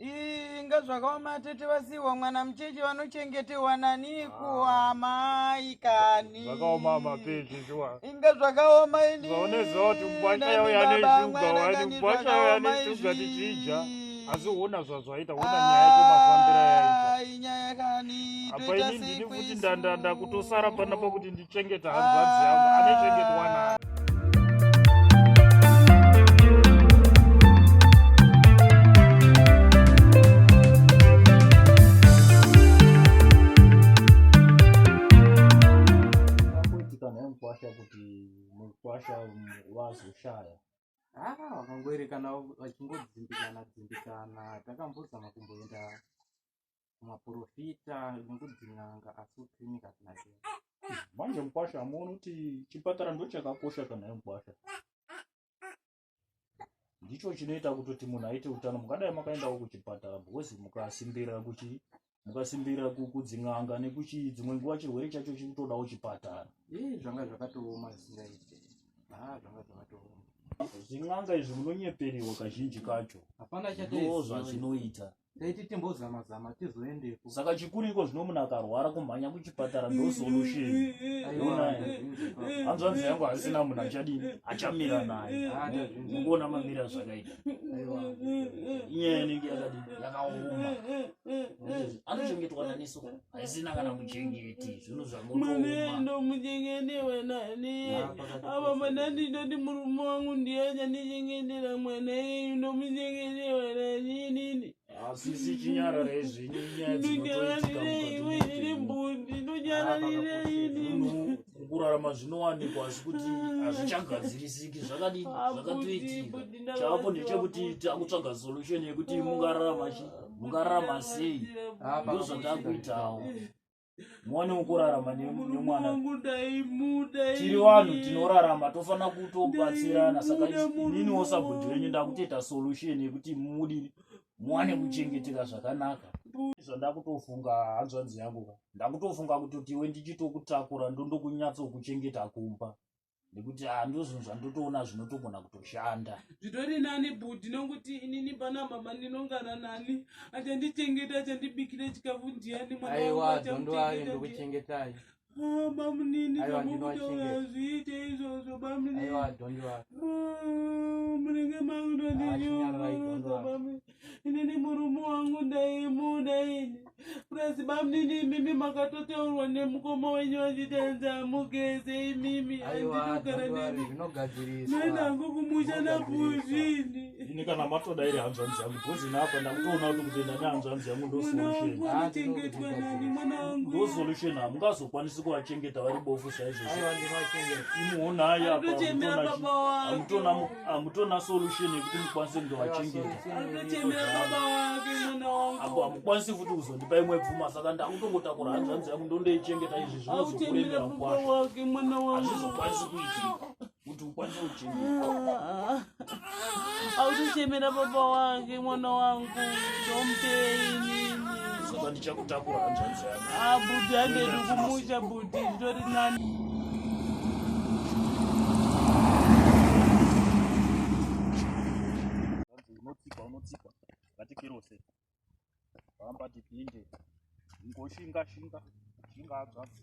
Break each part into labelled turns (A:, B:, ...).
A: inga
B: zvakaoma atete vasiiwa mwana mucheche vanochengetewa nani kuamai kani zvakaoma mapeji
A: shuwa inga zvakaoma
B: ini zvaoneziva kuti mubwacha
A: yauya neshuga wani mubwacha yauya neshuga tichidya asi uona zvazvaita uona nyaya yacho
B: mafambiro yaita apa ini ndini futi
A: ndandanda kutosara pana pakuti chengeta
C: hanzvanzi yangu ane chengetwa nani vazoshaya haa
D: vakangoerekana vachingodzimbikana dzimbikana takambozama kumboenda kumaporofita nekudzin'anga asi kuclinic hatina zera manje
C: mukwasha hamuoni kuti chipatara ndochakakosha kana yemukwasha ndicho chinoita kutoti munhu aite utano mungadai makaendawo kuchipatara because mukasimbirira kuchi mukasimbirira kudzin'anga nekuchi dzimwe nguva chirwere chacho chiri kutodawo chipatara ii zvanga
D: zvakatooma zvisingaite a ah, zvanga zvakatooma zvin'anga
C: izvi munonyeperiwa kazhinji kacho hapana
D: chatoizvazvinoita
C: taiti timbozama
D: zama tizoendepo saka chikuru iko zvino
C: munhu akarwara kumhanya kuchipatara ndo solution hanzvanzi yangu hasina munhu achadii achamira naye mukuona mamira zvakaita inyaya inenge yakadii yakaoma anochengetwa naneso haisina kana muchengeti
B: zvinhu zvamunomaava mwana ndinoti murume wangu ndiye achandichengetera mwana iyu ndomuchengetewa naninini asisi
C: chinyarare zvinyu nyaya dzinotoitika mbundi kurarama zvinowanikwa asi kuti hazvichagadzirisiki zvakadini zvakatoitika chaapo ndechekuti takutsvaga solution yekuti mungararama chii mukararama sei ndozvatakuitawo muone ukurarama nemwana tiri vanhu tinorarama tofanira kutobatsirana saka inini wosabhudhi venyu ndakutoita solution yekuti mudi muwane kuchengeteka zvakanaka zvandakutofunga hanzvanzi yangu ndakutofunga kuti tiwe ndichitokutakura ndondokunyatsokuchengeta kumba nekuti ah, ndozvinhu zvandotoona zvinotogona kutoshanda zvitori nani
B: budi nokuti inini pana mama ndinongara nani achandichengeta achandibikira chikafu ndiyani mwanaaiwaondoaendikuchengetai
D: ah, bamunini
B: zvamukutaazviite izvozvo bamunini ah, munenge makutondinyoroa inini murume wangu ndaimuda ini plus bamnini imimi makatotaurwa nemukoma wenyu vachiti anzi amugeze imimi anditogara nenenangu kumusha napuzvini ini kana matoda
C: iri hanzvanzi yangu because ini apa ndakutoona kuti kutenda nehanzvanzi yangu ndosolutionachengetwa nani
B: mwana wangu ndosolution
C: hamungazokwanisi kuvachengeta vari bofu saizvozvo imuonai apa amutona amutona solution yekuti mukwanise kunge vachengetaapo amukwanisi futi kuzondipa imwe pfuma saka ndakutongotakura hanzvanzi yangu ndondoichengeta izvi zvinozokuremera kwazvo hazvizokwanisi kuitika kuti ukwanise kuchengeta
B: autochemera baba wake mwana wangu ndomupei nini saka
C: ndichakutakura hanzvanzi yangu Ah, bhuti handedi
B: kumusha bhuti zvitori
C: nani vatikirose vambati pinde ngoshinga shinga shinga adzvadzi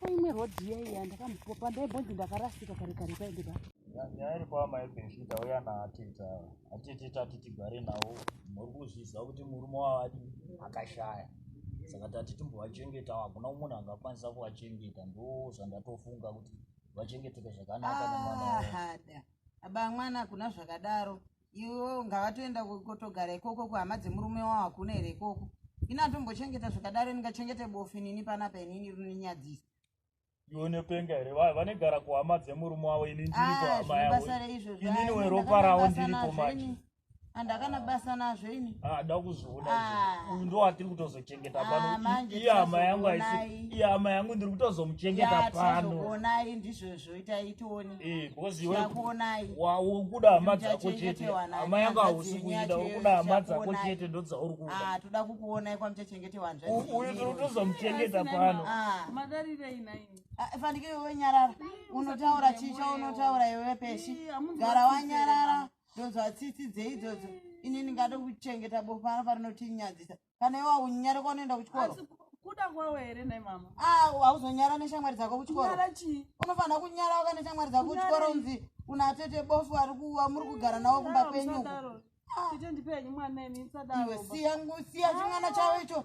E: paimwe road iya iya ndakamupopa ndaibonzi ndakarasika kare kare paende pa nyaya iri kwa
C: mai benfita uya naatita atitita titigare nawo muri kuzviziva kuti murume wavadi akashaya saka tati timbovachengeta hakuna munhu angakwanisa kuvachengeta ndo zvandatofunga kuti vachengeteke zvakanaka nemwana ah, aba
F: mwana kuna zvakadaro iwo ngavatoenda kotogara ikoko kuhama dzemurume wavo hakuna here ikoko ini atombochengeta zvakadaro ndingachengete bofu nini panapa inini rininyadzisa
C: ionepenga here vanegara kuhama dzemurume wavo ini
F: ndiriinini
C: ah, weropa ravo ndiripo manje
F: andakana basa nazvo ini ah, da kuzviona
C: ah. uyu ndo watiri kutozochengeta pano iye hama yangu aisi iye hama yangu ndiri kutozomuchengeta pano onai ndizvozvo
F: itai tione eh because iwe
C: ndakuonai wa ukuda hama dzako chete hama yanga hausi kuida ukuda hama dzako chete ndo dzauri kuda ah toda kukuonai kwa
F: mchachengete wanzva uyu tiri kutoza
C: muchengeta pano ah madarire
B: inai ah, fanike iwe
F: nyarara unotaura chicha unotaura iwe peshi gara wanyarara ndozwa tsitsi dzeidzo ini ndingada kuchengeta bofa rinotinyadzisa kana iwe aunyare kwaunoenda kuchikoro kuda kwawo
B: here nai mama ah, hauzonyara
F: neshamwari dzako kuchikoro unofanira kunyara waka neshamwari dzako kuchikoro unzi una tete bofu ari kuwa muri kugara nawo kumba kwenyu ah. siya chimwana chavo icho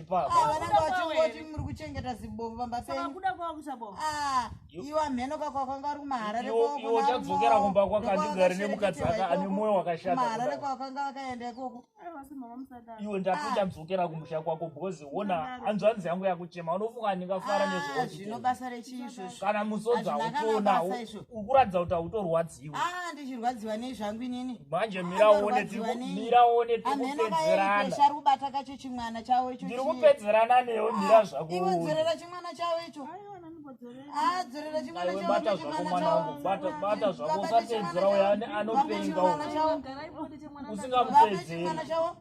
C: vanangavachingoti
F: muri kuchengeta zibovu pamba penyukuda kwava kuchabovu ah, iwo amheno kakwakwanga ari kumaharare kwaudzokera
C: kumba kwakandigari nemukadzi aka ane mwoyo wakashataharare kwakwanga
F: vakaenda ikoko
C: iwe ndatochadzokera ah. kumusha kwako bhozi wona hanzvanzi yangu yakuchema unofunga ndingafara ah, nezvino basa rechii izvozvo
F: kana musodza
C: utoona ukuratidza kuti hautorwadzi Ah, ndichirwadziwa nei
F: zvangu inini manje
C: miraonetiriunetirikupedzeranaari kubata kacho
F: chimwana chavo icho ndiri kupedzerana
C: newe mira ah, zvako iwe dzorera chimwana
F: chavo icho ah, dzorera chimwana chavobata zvako mwana wangu
C: bata zvako usapedzera uya anopenga usingamupedzeri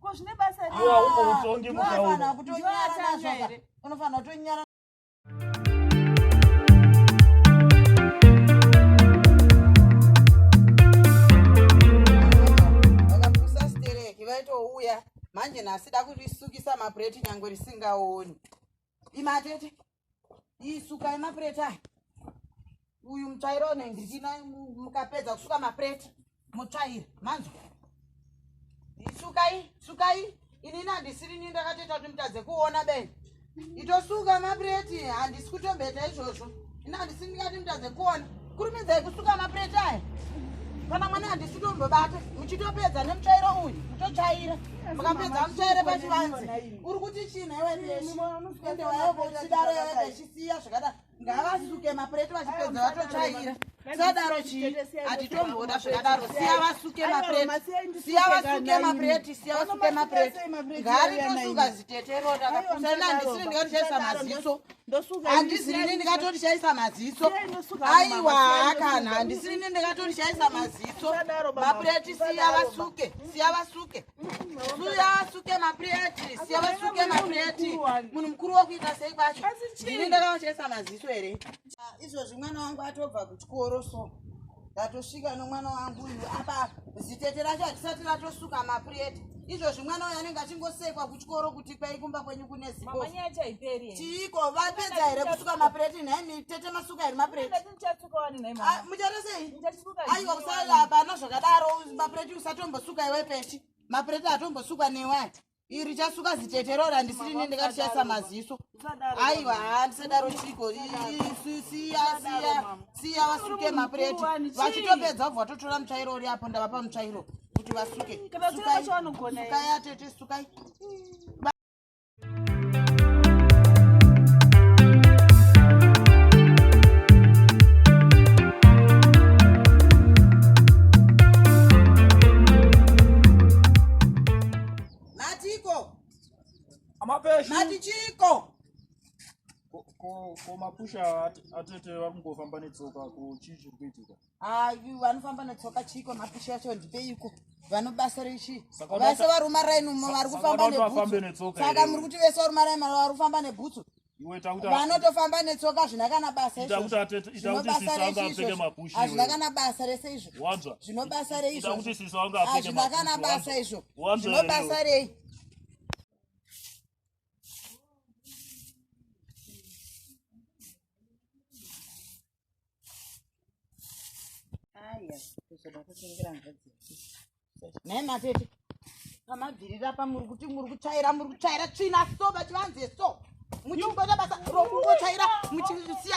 F: ko
B: zvine
C: basa
F: reutongi mukaona unofanira kutonyara manje nhasi da kurisukisa mabread nyangwe risingaoni imatete isuka yemapureti aya uyu mutsvairo unendichina mukapedza kusuka mapureti mutsvaira manzwa isukai sukai inini handisirini ndakatoita kuti mutadze kuona beni itosuka mapureti handisi kutombeta izvozvo ini handisini ndikati mutadze kuona kurumidzai kusuka mapureti aya kana mwana handisi tombobata muchitopedza nemutsvairo uyu mutotsvaira mukapedza mutsvaire pachivanzi uri kuti china iweende wayokochidaro yavekachisiya zvakadaro ngavasuke mapureti vachipedza vatotsvaira sadaro chii hatitomboda zvakadaro siya vasuke mapureti siya vasuke mapureti siya vasuke mapureti ngaaritosuka ziteterota sena ndisiri ndikatichaisa maziso handisirini ndikatorishaisa maziso aiwa hakana handisirini ndikatorishaisa maziso mapureti siya vasuke siya vasuke suya vasuke mapureti siya vasuke mapureti munhu mukuru wokuita sei kwacho ndini ndakavashaisa maziso here izvozvi mwana wangu atobva kuchikoro so ndatosvika nomwana wangu uyu apa zitete racho hatisati ratosuka mapureti izvozvi mwana uyo anenge achingosekwa kuchikoro kuti kwai kumba kwenyu kune zichiiko vapedza here kusuka mapureti nhai mitete masuka here mapuretimujatoseiaiwa ah, kusala hapana zvakadaro mapureti usatombosuka iwe peshi mapureti atombosukwa newai iri chasuka zitetero randisiri ne ndikatishayisa maziso aiwa haa ndisadaro chiko siya siya siya vasuke mapureti vachitopedza vobva vatotora mutsvairo uri apo ndavapa mutsvairo kuti vasuke sukai atete sukai Matiko. Amapeshi. Matichiko.
A: komapusha atete vakungofamba netsoka ko chii chiri kuitika ayi vanofamba
F: netsoka chiiko mapusha yacho ndipeiko vanobasa rechi vese varuma raini umo vari kufamba nebhutsaka muri kuti vese varuma raini vari kufamba nebhutsu
A: vanotofamba netsoka
F: zvina kana basa
A: izvozvazvina kana basa rese
F: izvo zvino basa
A: rei
F: izvozvazvina
A: kana basa izvo
F: zvino basa rei aya kuzoda kutengera mvadzi nhai matete pamabvirira pa muri kuti muri kutsvaira muri kutsvaira tsvina so vachivanze so muchibata basa rokungotsvaira muchisiya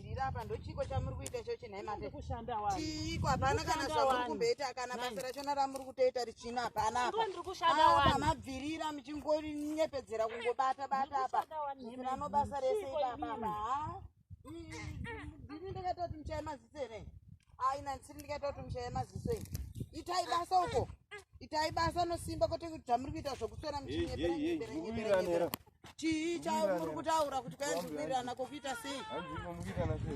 F: Ndira apa ndochiko chamuri kuita ichochi nhai mate. Kushanda wani. Chiiko hapana kana zvamuri kumboita kana basa rachona ramuri kutoita richina hapana apa. Ndipo ndiri kushanda wani. Apa mabvirira muchingonyepedzera kungobata bata apa. Ndinano basa rese ipapa apa. Ndini ndakaita kuti muchaye maziso here? Ai nansiri ndikaita kuti muchaye maziso here? Itai basa uko. Itai basa nosimba kwete kuti zvamuri kuita zvokuswera muchinyepera nyepera nyepera. chii chamuri kutaura kuti kaenzumirirana kokuita sei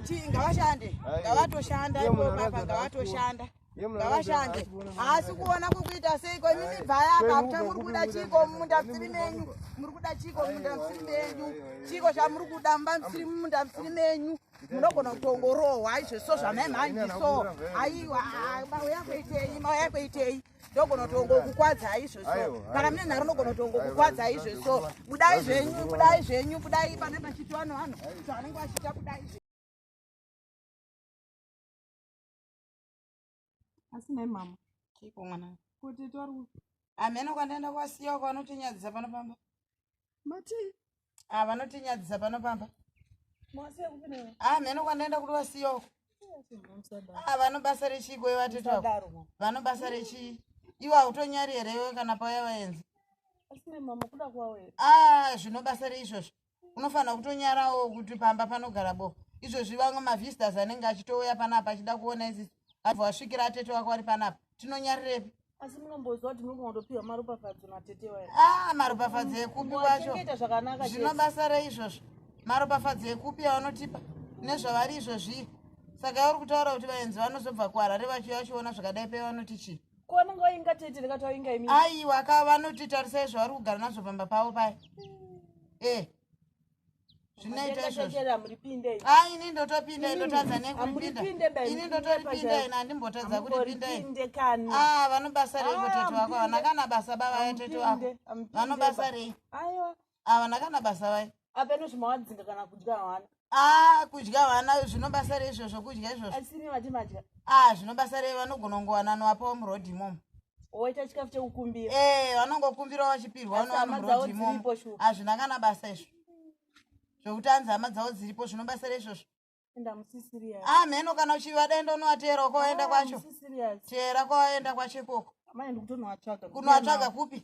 F: chii ngavashande ngavatoshanda ipomapa ngavatoshanda ngavashande haasi kuona kokuita sei kwenyu mibvaya akakuta muri kuda chiiko mumunda musiri menyu muri kuda chiiko mumunda musiri menyu chiiko chamuri kuda mumba musiri mumunda musiri menyu munogona kutongorohwa izvo so zvamai mhanyi so aiwa mauya kuitei mauya kuitei ndogona tongo kukwadza izvo so kana mune nharo ndogona tongo kukwadza izvo so budai zvenyu budai zvenyu budai pane pachiti vanhu vanhu zvavanenge vachiita budai
B: asi nai mama chiiko mwana
F: kuti tori
B: amene kwandaenda
F: kwasiya kwanotinyadzisa pano pamba
B: matii ah
F: vanotinyadzisa pano pamba
B: ah mheno kwandaenda kuti
F: vasiyoko ah vanobasa rechii koi vatete vako vanobasa rechii iwe hautonyari here iwe kana pauya vaenzi
B: ah zvinobasa
F: reizvozvo unofanira kutonyarawo kuti pamba panogara bo izvozvi vamwe mavisitors anenge achitouya panapa achida kuona izizi abva wasvikira atete wako ari panapa tinonyarirepi asi munomboziva
B: kuti muri kunotopiwa maropafadzo natete wayo ah, maropafadzo
F: ekupi wacho zvino
B: basa rei izvozvo
F: maropafadzo ekupi avanotipa nezvavari izvozvii saka yauri kutaura kuti vaenzi vanozobva kuharare vachiuya vachiona zvakadai pei vanoti chii kwananga vainga tete
B: ndakati vainga imi aiwa ka vanoti
F: tarisai zvavari kugara nazvo pamba pavo paya e eh. zvinoita izvozvo a ini ndotopinda ndotadza nekupinda ini ndotoripinda ina andimbotadza kuripinda a ah, vanobasa rei ah, kutete wako havana kana basa bavaya tete wako vanobasa rei havana
B: ah, kana basa
F: vai apeno zvimawadzinga
B: kana kudya hwana a kudya
F: vana zvinobasa rei izvozvo kudya izvozvo
B: a zvinobasa rei
F: vanogona kungowananowapawo murodhi imomo woita chikafu
B: chekukumbira eh vanongokumbira
F: vachipirwa vanovamurodzimo hazvina kana basa izvo zvekuti anzi hama dzavo dziripo zvinobatsira izvozvo ah mheno kana uchiva denda unovateera uko waenda ah, kwacho teera kwawaenda kwacho ikoko kunovatsvaga kupi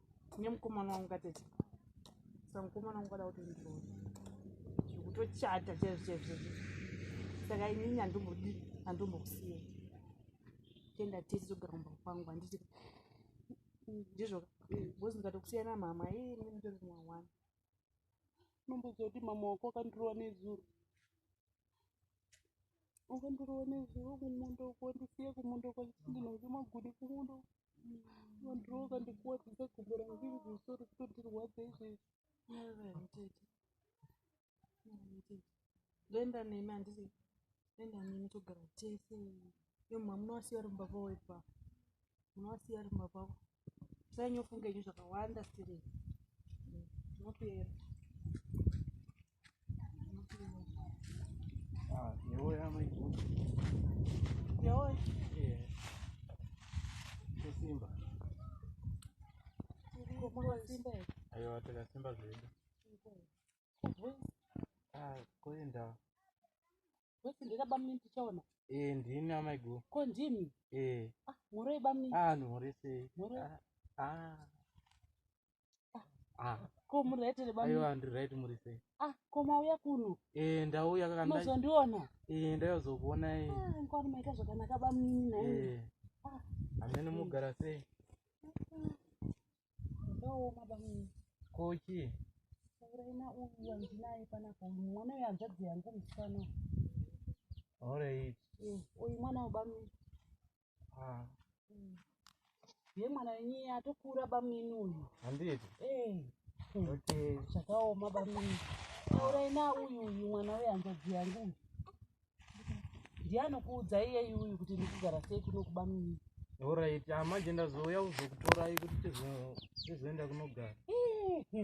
E: nemukomana wangu katete saka mukomana wangu kada kuti ndiroe zvekutochata chaizvo chaizvo saka inini handombodii handombokusiya tenda tese togara kumba kwangu handiti ndizvo bcoz ndikatokusiyana mama ii mune mutori kumwa one unomboziva kuti mama wako akandirova nezuro akandirova nezuro kumunda uko ndisiye kumunda uko ndinonge magudi kumunda uko vanhu vakandikuwadzisa gumbo rangu iri zvisoro kutondirwadza izvezvi ndoenda nemi handisi ndoenda nemi togara tese yo mha munowasiya ri mubaba wepa munowasiya ri mubaba wo tisanyofunga nyu zvakawanda sirei ndinotuyera
D: Ayo
E: takasimba
D: zvedu. Ah, koenda.
E: Wesi ndira bamni tichaona. Eh, ndini amai
D: go. Ko ndimi?
E: Eh. Ah, muroi bamni? Ah, muroi sei?
D: Muroi. Ah. ah.
E: Ah, ko muri right here bamnini aiwa ndiri right muri sei
D: ah ko mauya
E: kuno Eh, ndauya kaka ndai-
D: mozondiona eh,
E: ndaizokuonai
D: ah nkwani maita
E: zvakanaka bamnini nhaimi Eh, Ah. amene
D: mugara sei
E: ndooma bamnini ko
D: chii uraina
E: uyu wandinaye panapa uyu mwana uyu hanzvadzi yangu musikana uyu.
D: alright Eh, uyu
E: mwana wabamnini Ah. ye mwana wenyiye atokura bamnini uyu handiti eh.
D: hmm.
E: okay. zvakaoma bamnini taurai na uyu uyu mwana wehanzodzi yangu uyu ndiye anokuudza iyeyi uyu kuti ndikugara sei kuno kubamnini orit ah,
D: manje ndazouya kuzokutorai kuti tizoenda kunogara eh, hmm.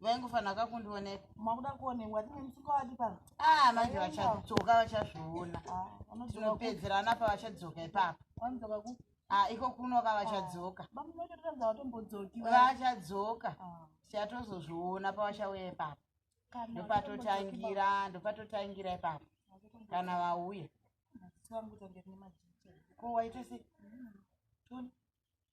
F: vaingofanira kakundioneka makuda kuonekwa tine musuka wadi pano ah manje vachadzoka vachazviona ah, tinopedzerana pavachadzoka ipapo vanodzoka ku ah iko kuno ka vachadzoka ah, bamunotoratidza vatombodzoki vachadzoka ah. chatozozviona pavachauya ipapo ndopatotangira ndopatotangira ipapo kana vauya ko waita sei mm.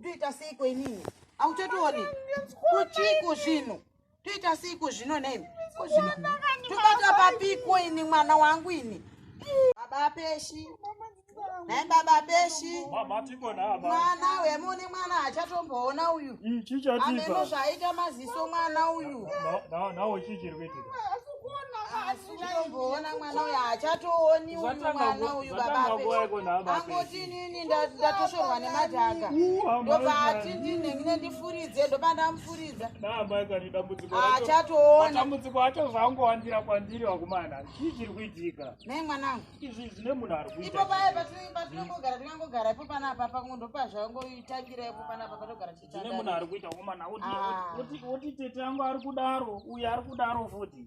F: ndoita seiko inini auchatooni kuchiiko zvino toita seiko zvino nemi tobata papiko ini mwana wangu ini baba peshi nai baba peshi
A: mwana wemune mwana
F: achatomboona uyu mm, ameno
A: zvaaita
F: maziso mwana uyu Uchaimboona mwana uyu haachatooni uyu mwana uyu baba angoti inini ndatoshorwa nemadhaka ndobva ati ndinenge ndifuridze ndoba ndamufuridza haachatooni dambudziko achobva
A: angowandira kwandiri vakomana chii chiri kuitika nei mwanangu
F: izvi zvine munhu ari
A: kuita ipo paye patinongogara
F: tingangogara ipo pana apapa kungo ndopazvangoitangira ipo pana apapa togara
A: tichitandane munhu ari kuita komana woti ah. tete angu ari kudaro uyu ari kudaro futi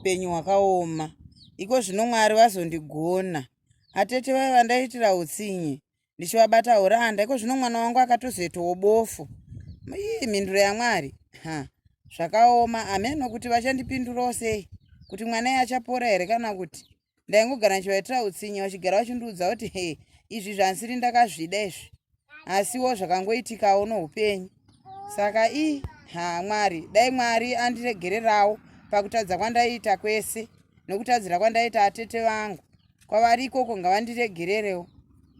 F: upenyu hwakaoma iko zvino mwari vazondigona atete vaiva vandaitira utsinye ndichivabata uranda iko zvino mwana wangu akatozoitawo bofu ii mhinduro yamwari ha zvakaoma ameno kuti vachandipindurawo sei kuti mwana iye achapora here kana kuti ndaingogara ndichivaitira utsinye vachigara vachindiudza kuti he izvi zvansiri ndakazvida izvi asiwo zvakangoitikawo noupenyu saka i ha mwari dai mwari andiregererawo pakutadza kwandaiita kwese nokutadzira kwandaita atete vangu kwavari ikoko ngavandiregererewo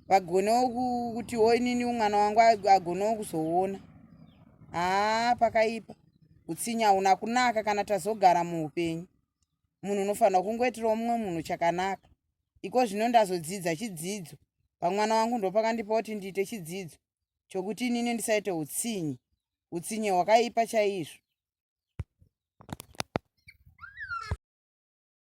F: vagonewo kutiwo inini mwana wangu agonewo kuzoona haa pakaipa utsinye hauna kunaka kana tazogara muupenyu munhu unofanira kungoitirawo mumwe munhu chakanaka iko zvino ndazodzidza chidzidzo pamwana wangu ndopakandipa kuti ndiite chidzidzo chokuti inini ndisaite utsinye utsinye hwakaipa chaizvo